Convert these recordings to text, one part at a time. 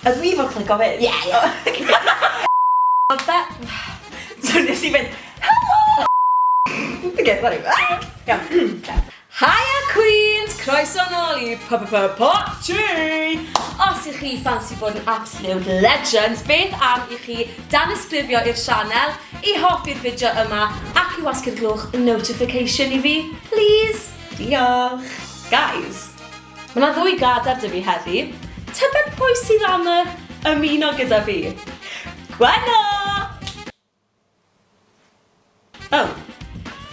Ydw i fod clico fyd? Ie, ie. Ond be... So nes i fynd, Helo! Dwi'n gweud fel rhyw. Iawn. Haia Queens! Croeso nôl i P-p-p-parti! Os y'ch chi ffansi bod yn absolute legends, beth am i chi danysgrifio i'r sianel, i hoffi'r fideo yma, ac i wasgu'r gloch notification i fi, please? Diolch! Guys, Mae 'na ddwy gadair 'da fi heddi. Tybed pwy sydd am yy ymuno gyda fi? Gwenno! O!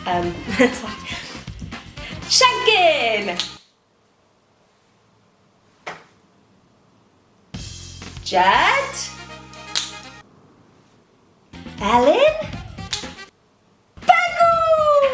Yym, sori. Siencyn! Jed? Elin? Begw!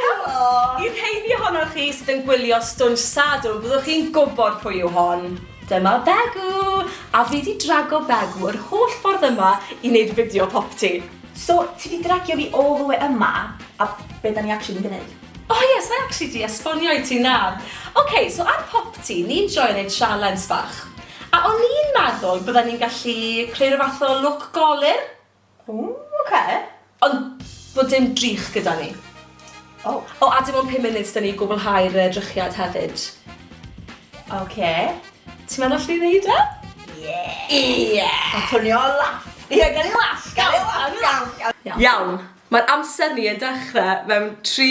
Helo! I'r rheini ohonoch chi sydd yn gwylio Stwnsh Sadwrn, byddwch chi'n gwybod pwy yw hon. Dyma Begw! A fi 'di drago Begw yr holl ffordd yma i wneud fideo popty. So, ti 'di dragio fi all the way yma, a be 'da ni actually mynd i wneud? O ie, sa i actually 'di esbonio i ti, na. Ok, so ar popty, ni'n joio wneud sialens bach. A o'n i'n meddwl bydda ni'n gallu creu rhyw fath o lwc golur? Ww, oce. Ond bod dim drych gyda ni. O! O, a dim ond pum munud s'da ni i gwblhau'r yy drychiad hefyd. Oce. Ti'n meddwl allen ni neud e? Ie! Ie! Ma'n swnio yn laff! Ie, gawn ni laff! Gawn ni laff! Gawn ni laff! Iawn, ma'r amser ni yn dechre mewn tri,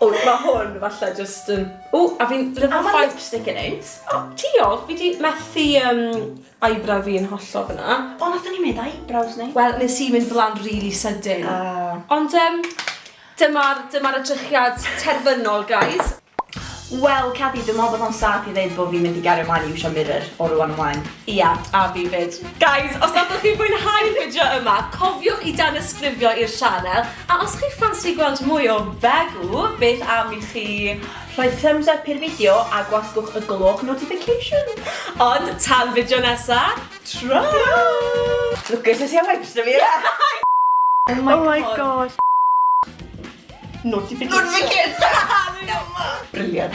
O, mae hwn falle just yn... O, a fi'n lyfo ffaith... A mae lipstick yn neis. O, diolch, fi di methu um, eyebrow fi yn hollol fyna. O, nath ni mynd eyebrows ni. Wel, nes i mynd flan really sydyn. Uh. Ond um, dyma'r dyma edrychiad terfynol, guys. Wel, Caddy, dwi'n meddwl bod o'n saff i ddeud bod fi'n mynd i gario mlaen i iwsio mirror o rwan ymlaen. Ia, yeah, a fi fyd. Guys, os nad ydych chi'n fwynhau'r fideo yma, cofiwch i dan ysgrifio i'r sianel A os chi'n ffansi gweld mwy o Begw, beth am i chi rhoi thumbs up i'r fideo a gwasgwch y gloch notification. Ond tan fideo nesa, tro! Look at this, yeah, wipes to me. Oh my god. Notification. Notification! Brilliant.